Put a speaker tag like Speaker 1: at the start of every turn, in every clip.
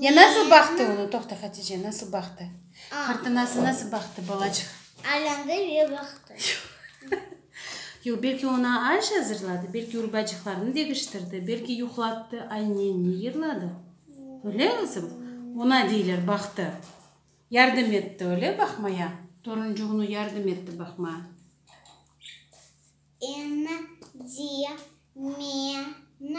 Speaker 1: Ya nasıl baqtı onı? Toqta, Hatice, nasıl baqtı? Fırtınası nasıl baqtı, balacıq? Aylandı ve
Speaker 2: baqtı.
Speaker 1: Yoq, belki oña aş azırladı, belki urbacıqlarını degiştirdi, belki yuqlattı, aynenni yırladı. Öyle, qızım? Oña deyler, baqtı. Yardım etti, öyle, baqmaya? Toruncuğını yardım etti baqmaya.
Speaker 2: Endi meni.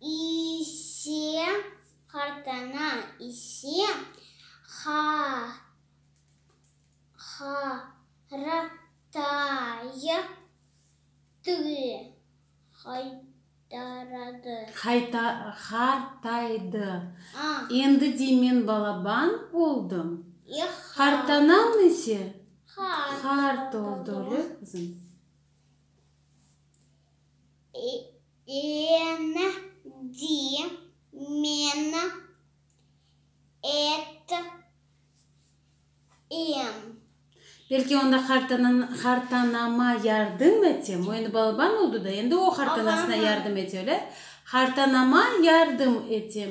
Speaker 2: İse qartana, İse qaratay. Qaytaradı.
Speaker 1: Endi de men balaban oldım.
Speaker 2: Qartanam
Speaker 1: ise qart oldı.
Speaker 2: Endi men ettim.
Speaker 1: Belki onda hartanama yardım etem. O endi balaban oldı da, endi o hartanasına yardım ete, öyle? Hartanama yardım etem.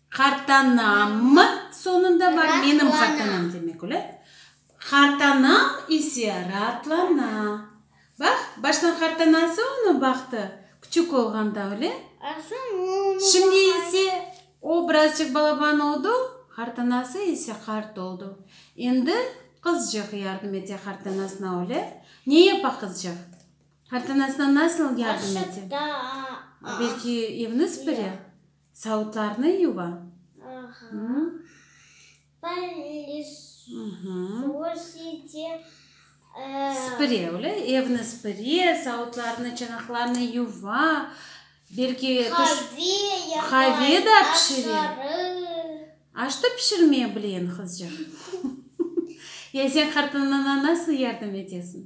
Speaker 2: Qartanam
Speaker 1: mı soñunda bar menim qartanam demek ola. Qartanam ise raatlana. Baq, baştan qartanası onı baqtı, küçük olğanda öyle. Şimdi ise o birazcıq balaban oldu, qartanası ise qart oldu. Endi qızcıq yardım ete qartanasına öyle. Ne yapa qızcıq? Qartanasına nasıl yardım ete? Belki evni süpüre? Savutlarnı yuva? Aha. Pılısositi, ee. Sıpıre, öyle? Evni sıpıre, savutlarnı, çanaqlarnı yuva, belki. Qave yapa. Qave da pişire. Aş da pişirmeye bile endi qızcaq. Ya sen qartınına nasıl yardım etesiñ?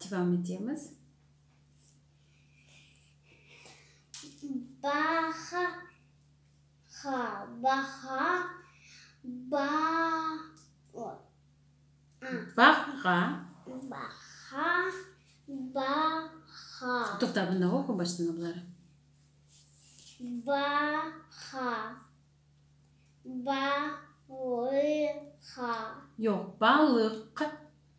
Speaker 1: Devam etemiz.
Speaker 2: Baha, ha, baha, ba, o,
Speaker 1: a. Baha. Baha, baha. Toqta, bundañ oqu baştan abları. Baha, ba, lı, ha. Yoq, balıq.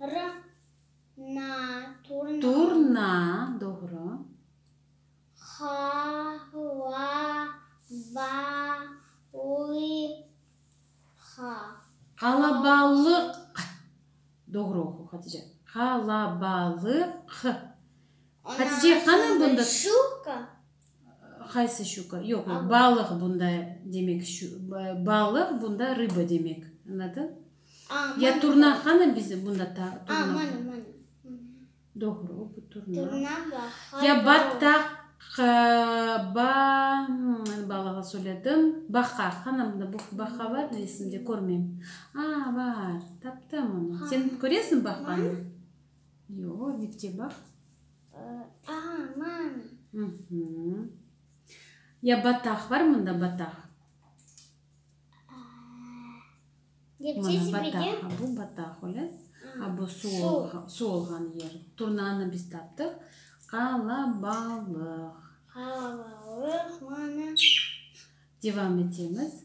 Speaker 2: Rna, turna. Turna,
Speaker 1: doğru. Ha, va, va, li, ha. Qalabalıq, q. Doğru oqu, Hatice. Qalabalıq, q. Hatice, qanı bunda. Şuka.
Speaker 2: Qaysı
Speaker 1: şuka? Yoq, yoq, balıq bunda demek, balıq bunda rıba demek. Añladın? Ya turna, hanım bizim bunda turna var. Doğru, bu turna. Ya battaq, ba, balığı söyledim, baqa, hanım bu baqa var resimde, körmeyim. A, var, taptım onı. Sen köresiñ baqanı? Yoq, dipte baq. Ağa, mana. Ya bataq, bar mında bataq? Mana bataq, a bu bataq, öyle? A bu suv olğan yer. Turnanı biz taptıq. Qalabalıq. Qalabalıq,
Speaker 2: mana. Devam
Speaker 1: etemiz.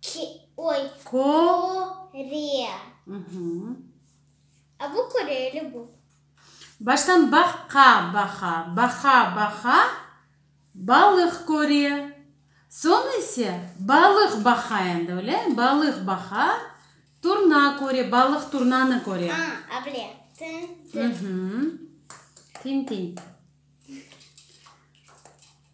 Speaker 2: Ki, oy, Ko. kore. Uhmm. A bu koreyli bu. Baştan
Speaker 1: baqqa, baqa, baqa, baqa, balıq kore. Soñ ise balıq baqa endi, öylemi? Balıq baqa, turna kore, balıq turnanı kore. A, able,
Speaker 2: tındı. Uhmm.
Speaker 1: Tin-tin.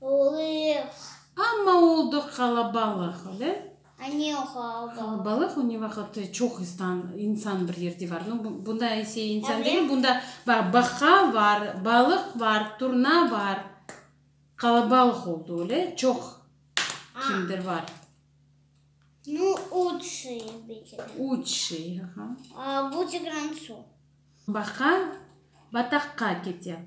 Speaker 1: Olıq. Amma oldıq qalabalıq, öyle? Anne o qalabalıq. Qalabalıq, o ne vaqıt çoq istan, insan bir yerde var. Nu, bu, bunda ise insan degil, bunda bax, baqa var, balıq var, turna var. Qalabalıq oldı, öyle? Çoq kimdir var. Nu, üç
Speaker 2: şey belki de. Üç şey,
Speaker 1: aha. A, bu
Speaker 2: tigran su. Baqa
Speaker 1: bataqqa kete.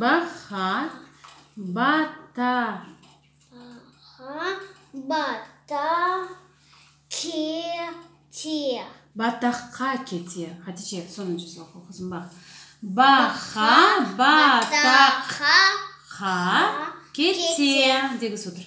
Speaker 1: Baha, bataqqa kete. Hatice, sonuncusını oqu qızım, baq. Baha, bataqqa kete. Degüs otur.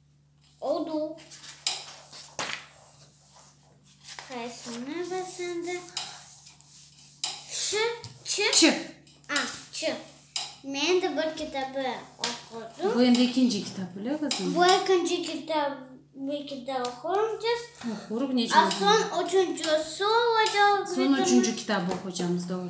Speaker 2: Oldu. Qaysını bilsen de. Ş, Ç. Ç. A,
Speaker 1: Ç.
Speaker 2: Men de bir kitabı oqudım. Bu endi ekinci
Speaker 1: kitap, öyle qızım? Bu ekinci kitap,
Speaker 2: bir kitap oqurum dep. Oquruv nece A,
Speaker 1: oldu? son üçüncüsü
Speaker 2: olacaq. Son üçüncü kitabı
Speaker 1: oqucamız, doğru.